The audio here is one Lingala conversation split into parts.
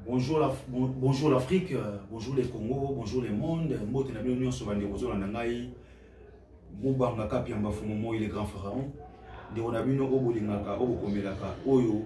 bonjour l'afrique euh, bonjour les congo bonjour le monde mbote na bino nyonso bandeko ozolanda ngai mobanga kapiamba fumu moi le grand pharaon ndeko na bino oyo bolingaka oyo bokomelaka oyo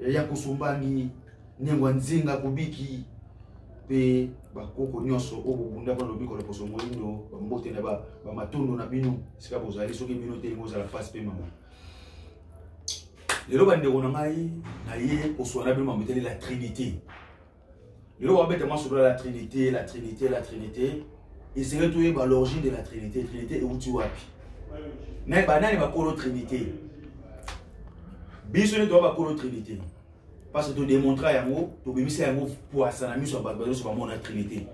ya kosombani nengwa nzinga kobiki mpe bakoko nyonso oyo bobunda mpo na lobiko na poso moindo bambote na bamatondo na bino esika bozali soki bino te lingo ozala mpasi mpe mama lelo bandeko na ngai naye koswana bino mambo etali la trinité lelo babeta masolo la trinité la trinité la trinité esengeli toyeba l'origine de la trinité trinité euti wapi me banani bakolo trinité biso nde toya bakolo trinité parce que todemontra yango tobimisa yango pwasa na miso ya bato banyonso bamona trinité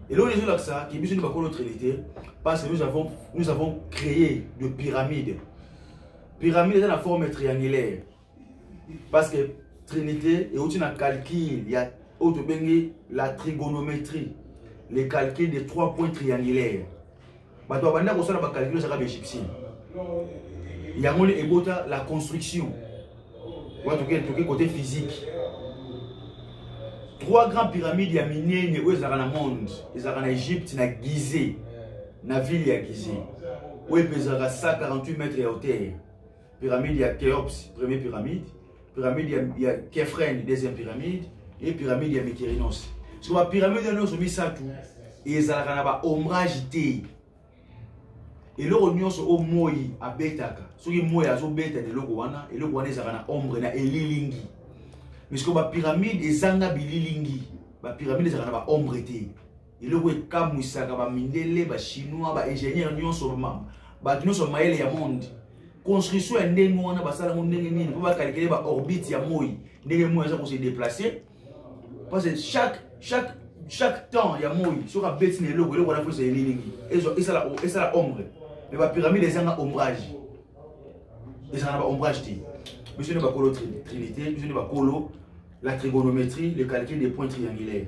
eloko ezolakisa ke biso nde bakolo trinité parce que nous avons, nous avons créé de pyramide pyramide eza na forme triangulaire parce que trinité euti na calcul ya oyo tobengi la trigonométrie le calcul de trois points triangulaire bato babandi ya kosala bacalcul ezaka baegyptien yango nde ebota la construction wana toke côté physique trois grands pyramides ya minene oyo ezalaka na monde ezalaka na egypte na gize na ville ya gize oyo epezalaka 148 mètre ya hauteur pyramide ya Khéops, première pyramide, pyramide ya, ya Kephren, deuxième pyramide, et pyramide ya Mykerinos. Sur la pyramide ya nyonso misato ezalaka na ba ombrage te. eloko nyonso oyo moi abetaka soki moi azobeta na eloko wana eloko wana ezalaka na ombre na elilingi misiko bapyramide ezanga bililingi bapyramide ezalaka na baombre te eloko ekamwisaka bamindele bachinois baingénieur nyonso bato nyonso mayele ya monde construction ya ndenge wana basala yango ndenge nini mpo bakalikele baorbite ya moi ndenge moi aza kose déplace parce que chaque chaque chaque temps ya moi soki abeti na eloko eloko wana fosa elilingi esala ombre mais bapyramide ezanga ombrage ezala na baombrage te biso nde bakolo trinité biso nde bakolo la trigonométrie le calcul des points triangulaires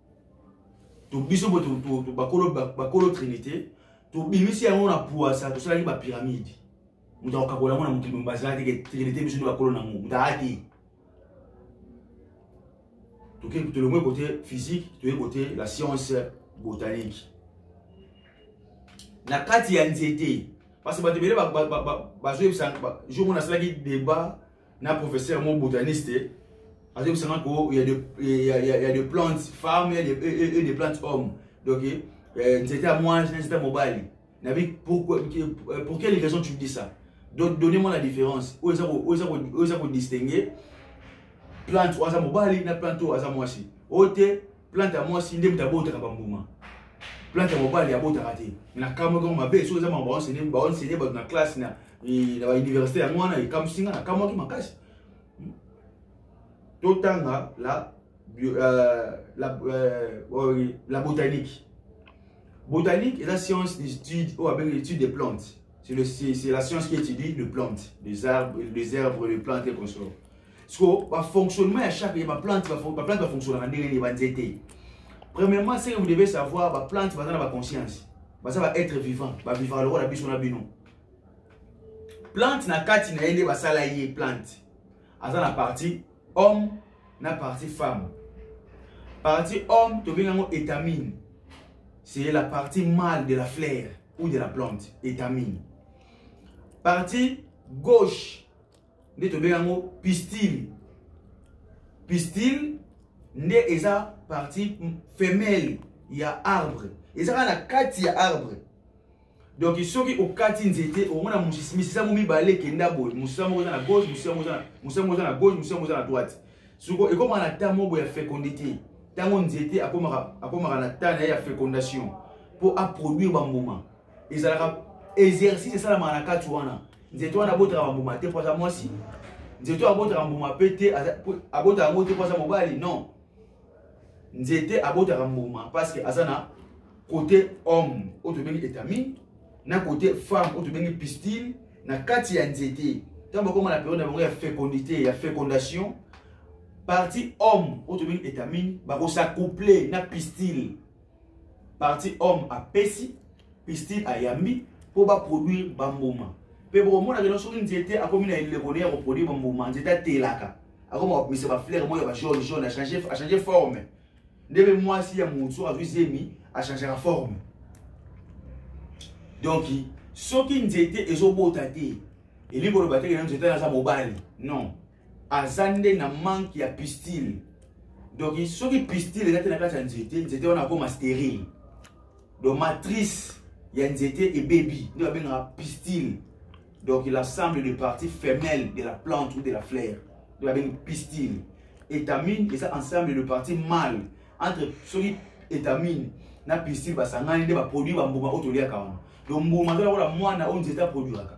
to biso bo to, to, to bakolo bakolo trinité to bimisi yango na puasa to salaki ba pyramide mutu akokakola yango na mokili mobimba azalaki te ke trinité biso nde bakolo nango mutu aya te toke tolongwe kote physique toye kote la science botanique na kati ya nzete parce bato ebele bazoyebisa jour mona asalaki débat na professeur mo botaniste azobisa nga ko ya de, ya, ya, ya de plante femme ya de, e, e, de plante homme donc euh, nzete ya mwasi na nzete ya mobali nabi pourquoi euh, pour quelle raison tu dis ça donc donnez moi la différence oyo eza kodistingue plante oyo aza mobali na plante oyo aza mwasi oyo te plante ya mwasi nde moto abotaka bambuma plante ya mobali abotaka te na kamwa kama mabe soki eza mama baonsene baonsene bato na classe na eh, na bauniversité yango wana ekamwisi nga na kamwaki makasi hmm? totanga la bio, euh, la, euh, oh, la botanique botanique eza science d'étude oyo abengi étude des plantes c'est la science qui étudie les plantes les arbres les herbes les plantes et consorts siko bafonctionnement ya chaque ya baplante baplante bafonctionnaka ndenge nini banzete premièrement ce que vous devez savoir baplante baza na baconscience baza baêtre vivant bavivaka lokola biso na bino plante na kati na ye nde basala ye plante aza na partie homme na partie femme partie homme tobengi yango étamine c'est la partie mâle de la fleur ou de la plante étamine partie gauche nde tobenga yango pistile pistile nde eza partie femelle ya arbre eza kaka na kati ya arbre donc soki okati nzete omona misisa mo mibale ekenda boye mosisa moko eza na gauche mosisa moko eza na gauche mosisa moko eza na droite soko ekomaka na temps moko ya fécondité ntango nzete akomaka na temps na ye ya fécondation mpo aproduire bambuma ezalaka exercice esalamaka na kati wana nzete wana abotaka bambuma te mpo aza mwasi nzete oyo abotaka mbuma mpe te abotaka yango te mpo aza mobali non nzete abotaka mbuma parceke aza na kote homme oyo tobengi etamine na kote femme oyo tobengi pistile na kati ya nzete ntango bakoma na periode na bango ya fécondité ya fécondation parti homme oyo tobengi etamine bakosacouple na pistile parti homme apesi pistil ayambi mpo baproduire bambuma mpe bokomona keno soki nzete akomi na eleko ne ya koproduire bambuma nzete atelaka akoma kopesa baflere moko ya bajaune jaune achange forme nde mpe mwasi ya motu soki azwi zemi achangaka forme donc soki nzete ezobota te elingi koloba te kena nzete aza mobali non aza nde na manque ya pistile donc soki pistile eza te na kati ya nzete nzete wana akoma sterile donc matrice ya nzete ebebi nde babengaka pistile donc il assemble de partie femelle de la plante ou de la fleur nde babengi pistile étamine eza ensemble de partie male entre soki étamine na pistile basangani nde baproduit bambuma oyo toliaka wana donc mbuma aza lokola mwana oyo nzete aproduiraka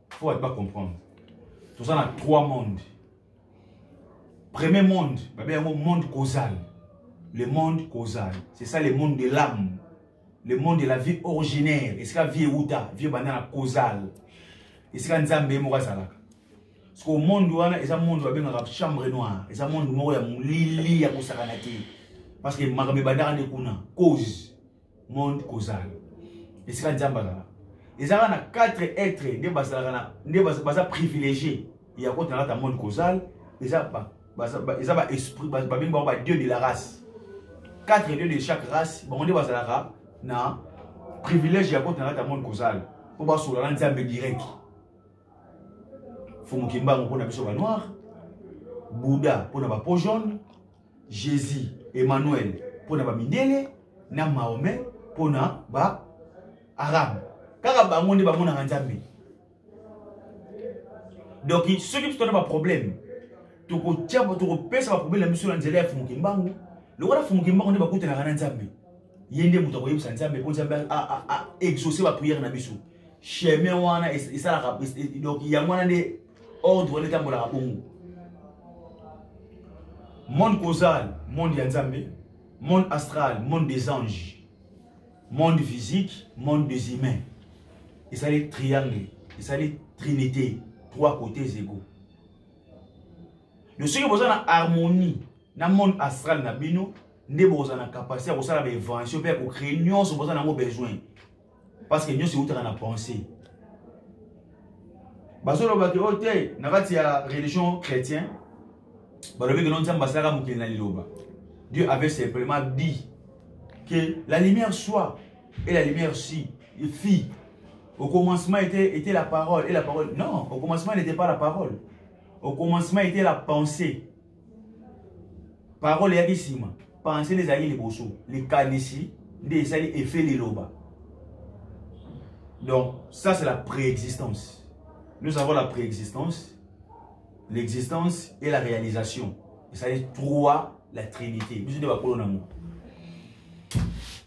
faut bato bacomprendre toza na trois monde premier monde babe yango monde causal le monde causal c'est ça le monde de l'âme le monde de la vie originaire esika vie euta vie ebanda na causal esika nzambe ye moko azalaka sikoyo monde wana eza monde babengaka chambre noire eza monde moko ya molili ya kosakana te parce que makambo ebandaka nde kuna cause monde kozala esika nzambe azala ezalaka na quatre etre nde bazalaka na nde baza privilégié ya kota na kata monde kozala eza ba eza ba esprit babengi bango ba dieu de la race quatre dieu de chaque race bango nde bazalaka na privilège ya kota na kata monde kozala mpo basola na nzambe direct fumukimbango mpo na biso banoir bouda mpo na bapo jaune jesus emmanuel mpo na bamindele na mahome mpo na ba arabe kaka bango nde bamonaka nzambe donc soki biso tona baproblème tokotya tokopesa baproblème na biso na nzela ya fumuki mbangu lokola fumuki mbangu nde bakutanaka na nzambe ye nde moto akoyebisa nzambe mpo nzambe aexauce baprière na biso chemin wana esalaka donc yango wana nde ordre wana etambolaka bongo monde causal monde ya nzambe monde astral monde des anges monde physique monde des humains esali triangle esali trinité trois côtés ego yo soki boza na harmonie na monde astral na bino nde bokozala na capacité ya kosala bainvention mpe ya kocree nyonso boza na yango besoin parce que nyonso eutaka na pensée bazoloba ke oyo oh, te na kati ya religion chrétien balobi keno nzambe asalaka mokili na liloba dieu avait simplement dit que la lumière soit et la lumière si fit au commencement était, était la parole et la parole non au commencement n'était pas la parole au commencement était la pensée parole eyaki nsima pense nde ezalaki liboso likanisi nde esali efe liloba donc ça c'est la préexistence nous avons la préexistence l'existence et la réalisation esali trois la trinité biso nde bakolo na yango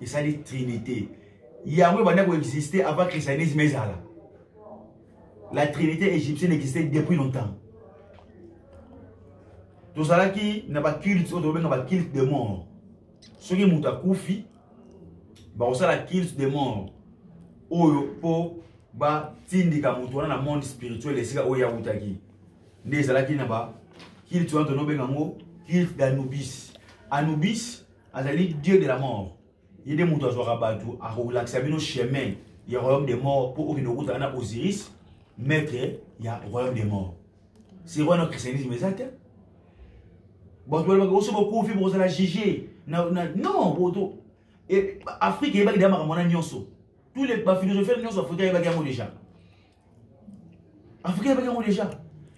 ezali trinité yango ebanda koexiste avant christianisme ezala la trinité égyptienne existait depuis longtemps tozalaki na baculte oyo tobenga baculte de mort soki moto akufi bakosala culte de mort oyo mpo batindika moto wana na monde spirituel esika oyo awutaki nde ezalaki na baculte wana tonobenga yango culte d'anubis anubis azali dieu de la mort ye nde moto azwaka bato akolakisa bino chemin ya royaume de mort mpo okende kokutana na osiris maître ya royaume de mort sikoyo wana christianisme eza te bato balobaka oso bokufi bokozala juge non boto afrique eyebaki deya makambo wana nyonso tous les baphilosophie nyonso afrika eyebaki yango déjà afrika ebaki yango deja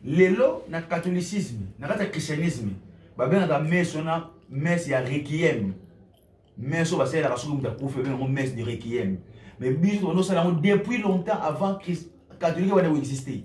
lelo na catholicisme na kati ya christianisme babengaka mese wana mese ya requiem mese oyo basalelaka soki moto akufi babenga yango mese de requiem mais biso tobanda osala yango depuis longtemps avant catholique wana ekoexiste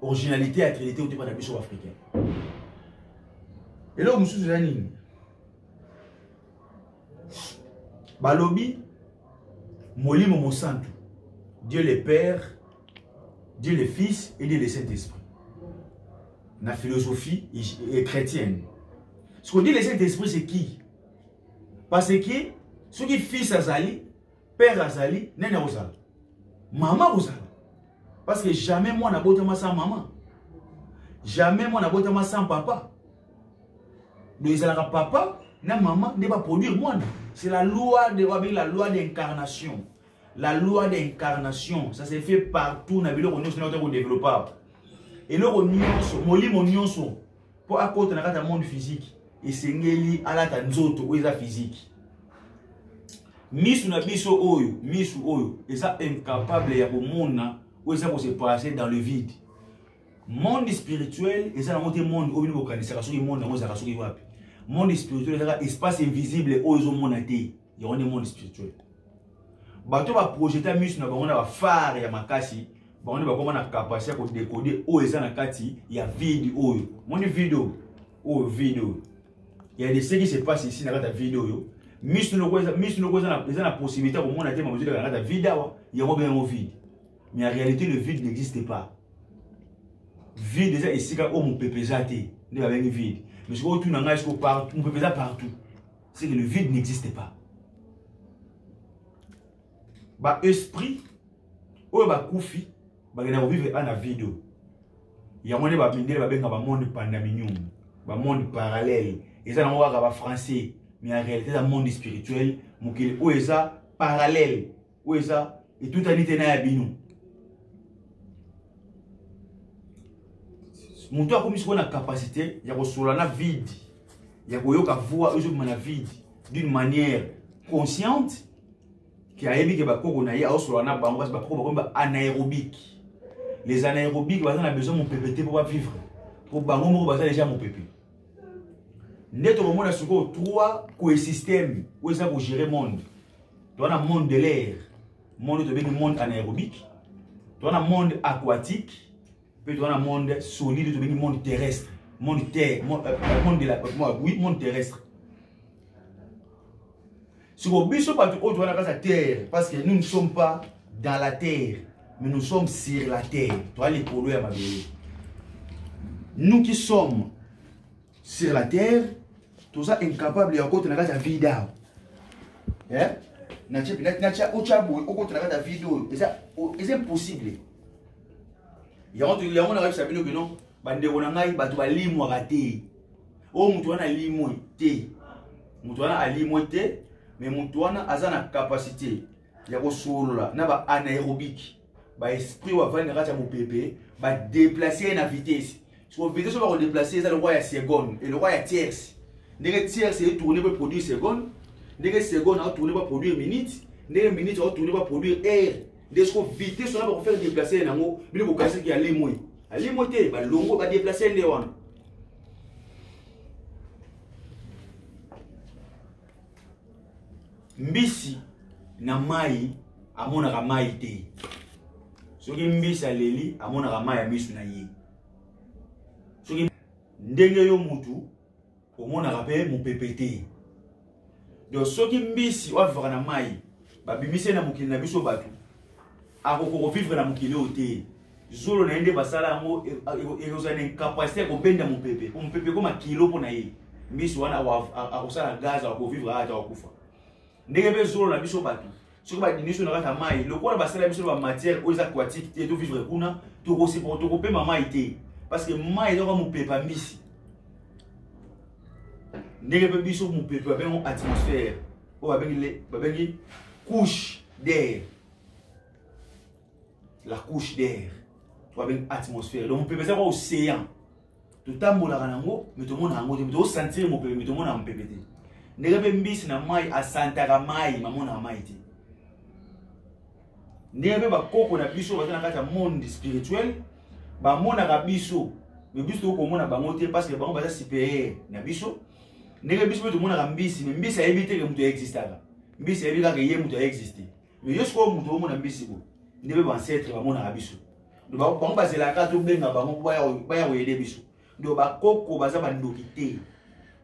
originalité ya trinité otema na biso africain eloko mosusu eza nini balobi molimo mosantu dieu le père dieu le fils et dieu le saint esprit na philosophie chrétienne ce qu'on dit le saint esprit c'est qui parce que soki fils azali père azali nani akozala mama akozala parce que jamais mwana abotama sans mama jamais mwana abotama sans papa donc ezalaka papa na mama nde baproduire mwana c'est la loi de babengi la loi d'incarnation la loi d'incarnation ça se fait partout na biloko nyonso na ote kodéveloppe eloko nyonso molimo nyonso mpo akota na kati ya monde physique esengeli alata nzoto oyo eza physique misu na biso oyo misu oyo eza incapable ya komona oyo eza kose passer dans le vide monde spirituel eza nango te monde oyo bino bokanisaka soki monde yango ezalaka soki wapi monde spirituel ezaka espace invisible oyo ezomona te yango nde monde spirituel bato baprojeta miso na bango na bafare ya makasi bango nde bakoma na kapasite ya kodekode oyo eza na kati ya vide oyo moni vide oyo oyo vide oyo ya deseki se passe ici na kati ya vide oyo miso noko eza na possibilité ya komona te makozi na kati ya vide awa yango mpe yango vide mais en réalité le vide n'existe pas vide eza esika oyo mopepe eza te nde babengi vide mais soki otuna ngai siko mopepe eza partout c'est que le vide n'existe pas ba esprit oyo bakufi bakenda kovivre ana vide oyo yango nde bamindele babenga bamonde pandaminium bamonde parallèle eza nango kaka bafrançais mais en réalité eza monde spirituel mokili oyo eza parallèle oyo eza etutani te na ya bino moto akomi sikoyo na capacité ya kosola na vide ya koyoka voix ezobima na vide d'une manière consciente ke ayebi ke bakoko na ye aosola na bango kasi bakoko bakomi ba anaérobique les anaérobique baza na besoin mopepe te mpo bavivre mpo bango moko baza deja mopepe nde tokomona sikoyo trois coesystème oyo eza kogere monde toza na monde de l'air monde tobengi monde anaérobique toza na monde aquatique mpe toza na monde solide tobengi monde terrestre monde terre monde, euh, euh, monde, de la, euh, oui, monde terrestre siko biso bato oyo towana kati ya terre parce que nous ne sommes pas dans la terre mais nous sommes sur la terre toa likolo ya mabele nous qui sommes sur la terre toza incapable ya kokota na kati ya vide awa eh? natya otya boye okota na kati ya vide oyo eza impossible yango yango nakayebisa bino bino bandeko na ngai bato balimwaka te oyo moto wana alimwe te moto wana alimwe te me moto wana aza na kapasite ya kosolola na baanaérobike baesprit bavandi na kati ya mopepe badeplace ye na vitese soko vitese oyo bakodeplace eza lokwa ya seconde elokwa ya tierce ndenge tierce etourne po produit seconde ndenge seconde aotourne po produire minute ndenge minute aotourne po produire aire nde soko vitese wana bakofere deplace ye nango bino bokanisaki alimwe alimwe te balongo badeplace nde wana mbisi na mai amonaka mai te soki mbisi aleli amonaka mai ya miso na ye soki ndenge yo mutu omonaka mpe mopepe te donc soki mbisi oyo avivaka na mai babimisi ye na mokili na biso bato akokoka kovivre na mokili oyo te zolo na ye nde basala yango ekozala na incapacité ya kobenda mopepe po mopepe ekoma kilo mpo na ye mbisi wana akosala gaz akovivre ata akokufa ndenge mpe zolo na biso bato soki badini biso na kati ya mai lokola basala biso ba matière oyo eza aquatique te tovivre kuna tokosepoko tokopema mai te parce que mai ezaka mopepe ya mbisi ndenge mpe biso mopepe babengo atmosphère oyo babengi babengi couche d'air la couche d'air oyo babengi atmosphère donc mopepe ezaka océan totambolaka na yango me tomona yango te tosantire mopepe me tomonaka mopepe te ndenge mpe mbisi na mai asantaka mai mamonaka mai te ndenge mpe bakoko na biso baza na kati ya monde spirituel bamonaka biso me biso tokoki komona bango te parce que bango baza superieur na biso ndenge biso mpe tomonaka mbisi me mbisi ayebi te ke moto aexistaka mbisi ayebi kaka ye moto aexiste mais yo sikoyo moto omona mbisi bo nde mpe bancetre bamonaka biso bango bazelaka tobenga bango mpo baya koyede biso donc bakoko baza bandoki te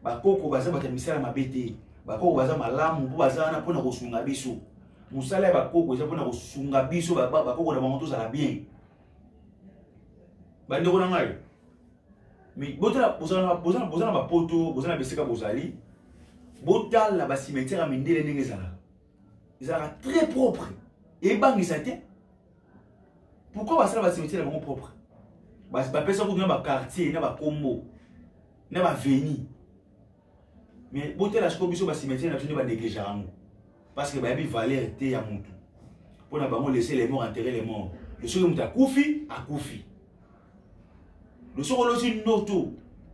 bakoko baza bato ya misala mabe te bakoko baza malamu mpo baza wana mpona kosunga biso mosala ya bakoko eza mpona kosunga biso bakoko na bango tozala bien bandeko na ngai boza na bapoto boza na bisika bozali botala basimetiere ya mindele ndenge ezalaka ezalaka très propre ebangisa te pourquoi basala basimetier na bango propre bapesa kutu na baquartier na bakombo na baveni mais botela siko biso basimetier na biso nde baneglija yango parce que bayebi valeur te ya motu mpo na bango laisser les morts enterrer les morts soki moto akufi akufi soki olosi ndoto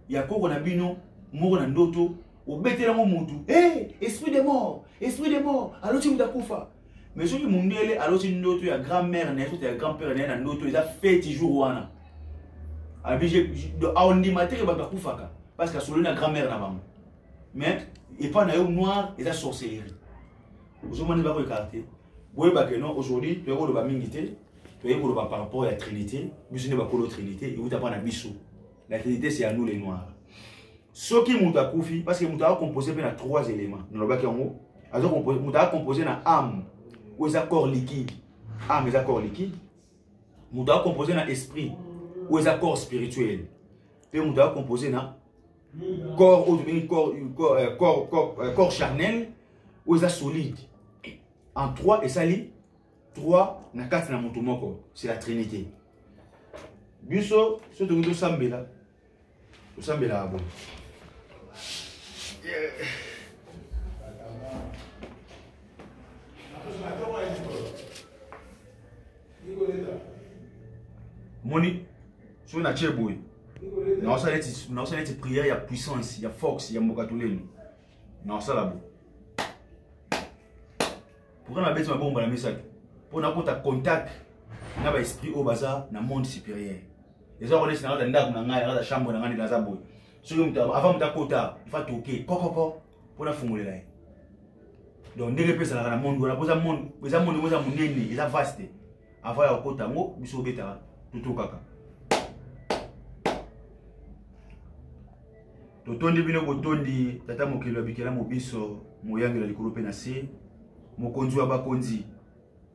ya koko na bino moko na ndoto obeteli yango motu e eh, esprit de mort esprit de mort aloti moto akufa mais soki mondele aloti ndoto ya grand mère na ye soki ya grand père na ye na ndoto eza feti jour wana abije aondima te ke bato akufaka parce que asololi na grand mère na bango mais epai na yo noir eza sorcellerie ozomoni bakoyekaka te boyebake non aujourd'hui toyakoloba mingi te toyei koloba par rapport ya trinité biso nde bakolo trinité euta mpa na biso la trinité c'est à nous les noirs soki moto akufi parce que moto akocompose mpe na trois éléments nalobaki yango moto akocompose na ame oyo eza corps liquide ame eza corps liquide moto akocompose na esprit oyo eza corps spirituel mpe moto akocompose na corps oyo tobengi corps euh, euh, charnel oyo eza solide en trois esali 3 na kati na moto moko c'est la trinité biso soki tokoki tosambela tosambelaka boye moni soki natie boye naosala neti prière ya puissance ya force ya mboka toleni naosala boye pourquoi na beti mabongo mbala misato mpo nakota contact na baesprit oyo baza na monde supérieur eza konesi na kata ndako na ngai na kata chambre na ngai ndela aza boye soki moto avant moto akota ifa toke kokoko mpo nafungolela ye donc ndenge mpe ezalaka na monde wana mpo eza monde ngo eza monene eza vaste avant ya kokota yango biso obetaka totokaka totondi bino botondi tata mokeli ya bikelamu biso moyangeli ya likolo mpe na se mokonzi wa bakonzi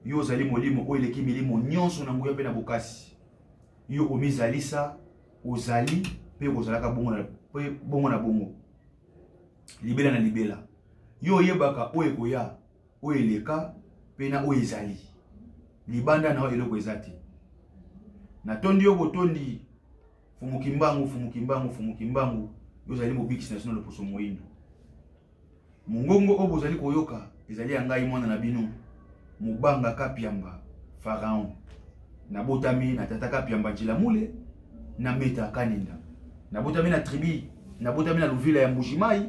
yo ozali molimo oyo eleki milimo nyonso na nguya mpe na bokasi yo omizalisa ozali mpe okozalaka bongo na bongo na bongo libela na libela yo oyebaka oyo ekoya oyo eleka mpe na oyo ezali libanda na yo eloko eza te natondi yo botondi Fumu Kimbangu, Fumu Kimbangu, Fumu Kimbangu, yo ozali mobikisi na sino loposo moindo. Mongongo oyo bozali koyoka ezali ya ngai mwana na bino Mubanga Kapiamba Pharaon. Nabotami na tata Kapiamba Jilamule na Meta Kaninda. Nabotami na tribu, nabotami na Luvila ya Mbujimayi.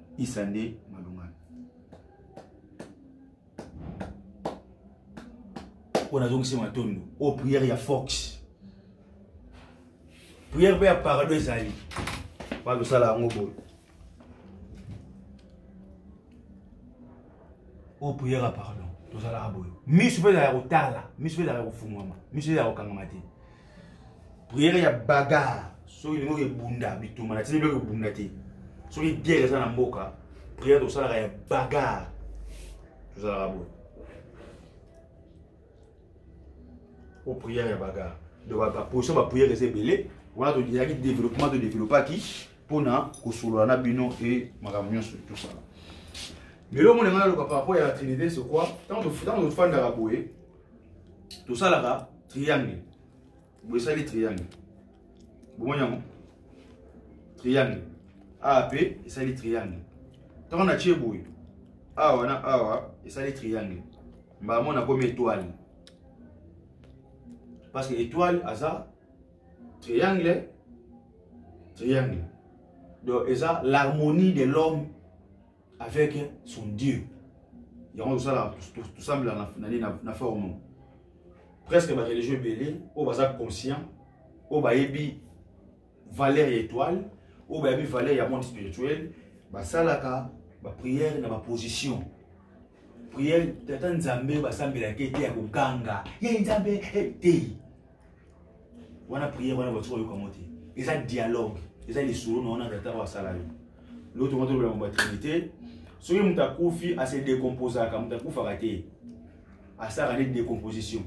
isa nde malungana oyo nazongisi matondo oyo priere ya fox priere mpe ya parado ezali balosala yango boye oyo priere ya pardon tozalaka boye miso mpe ezalaka kotala miso mpe ezalaka kofungwama miso ezalaka kokangama te priere ya bagarre soki lingo ebunda bitumba na tini biloko ebunda te soki guerre eza na mboka priere tosalaka ya bagarre tozalaka boye o priere ya bagarre donc baposition bapriere eza ebele wana toyaki développement todeveloppaki mpona kosolola na bino e makambo nyonso tosala lelo omona ngai naloba par rapport ya trinité sokwa ntango tofandaka boye tosalaka triangle boye esali triangle bomoni yango triangle awa mpe esali triangle ntango natie boye awa na awa esali triangle mbala moko nakomi etoile parce que etoile aza triangle triangle donc eza l'harmonie de l'homme avec son dieu yango tosala tosambela na nini na forme presque bareligion ebele oyo baza conscient oyo bayebi valeur ya étoile oyo bayebi valeur ya monde spirituel basalaka bapriere na baposition priere tata nzambe basambelaka ete ya koganga ye nzambe te wana prière wana batika oyoka yango te eza dialogue eza lisolo na wana tata oyo asala yo lelo tongo tolobela mo batrinité soki moto akufi ase décomposaka moto akufaka te asalaka nde décomposition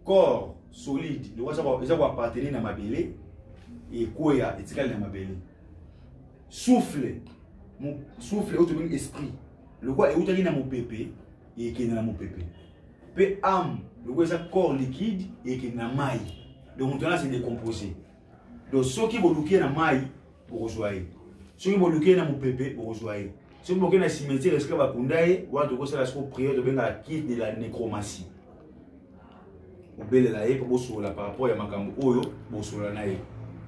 corps solide lokola eza koappartenir na mabele ekweya etikali na mabele souffle souffle oyo tobengi esprit lokola eutaki na mopepe ekende na mopepe mpe ame lokola eza corps liquide ekende na mai donc moto wana se décompose donc soki boluki ye na mai bokozwa ye soki boluki ye na mopepe bokozwa ye soki boke na cimetière esika bakunda ye wana tokosala siko priere tobengaka kit de la nécromatie obelela ye mpo bosolola par rapport ya makambo oyo bosolola na ye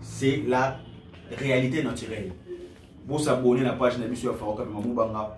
c'est la réalité naturelle bosabone na page na biso ya faroka mpe mamubanga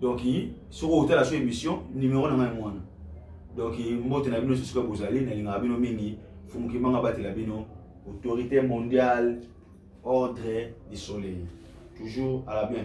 donc soki otala so émission numéro na ngai yango wana donc mbote na bino sosoka bozali nalingaka bino mingi fumukimanga batela bino autorité mondiale ordre du soleil toujours à la bien